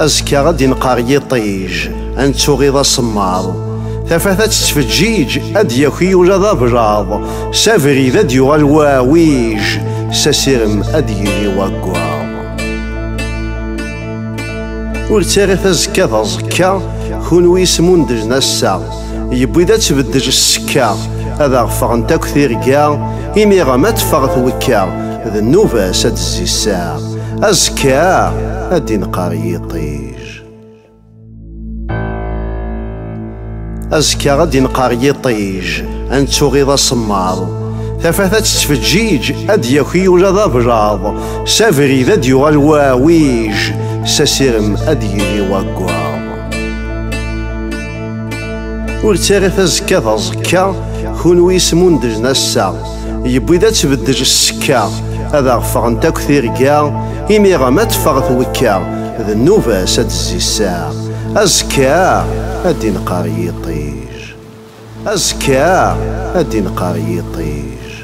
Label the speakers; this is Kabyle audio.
Speaker 1: azekka ad d-inqer yiṭij ad nettuɣiḍ asemmaḍ tafat ad tettfeǧǧiǧ ad d-yaki ula d ablaḍ s abrid ad d-yuɣal wawiǧ s asirem ad d-yili waggaḍ ur ttara tazekka d aẓekka kunwi yesmundlen assaɣ Yewwi-d ad tbeddej ssekka, ad aɣ-ffɣent akk tirga, imiɣem ad teffeɣ twekka, d nnuba-s ad d-tezzi ssaɛa, azekka ad d-inqer yiṭij. Azekka ad d-inqer yiṭij, ad nettuɣiḍ asemmaḍ, tafat ad tettfeǧǧiǧ, ad d-yaki ula d ablaḍ, s abrid ad d-yuɣal waɛwij, s asirem ad d-yili waggaḍ. Ur ttarit azekka d aẓekka, kunwi ismundlen ass-a. Yewwi-d ad tbeddel ssekka, ad aɣ-ffɣent akk tirga, imir-a ma teffeɣ twekka, d nnuba-s ad d-tezzi ssaɛa. Azekka ad d-inqer yiṭij. Azekka ad d-inqer yiṭij.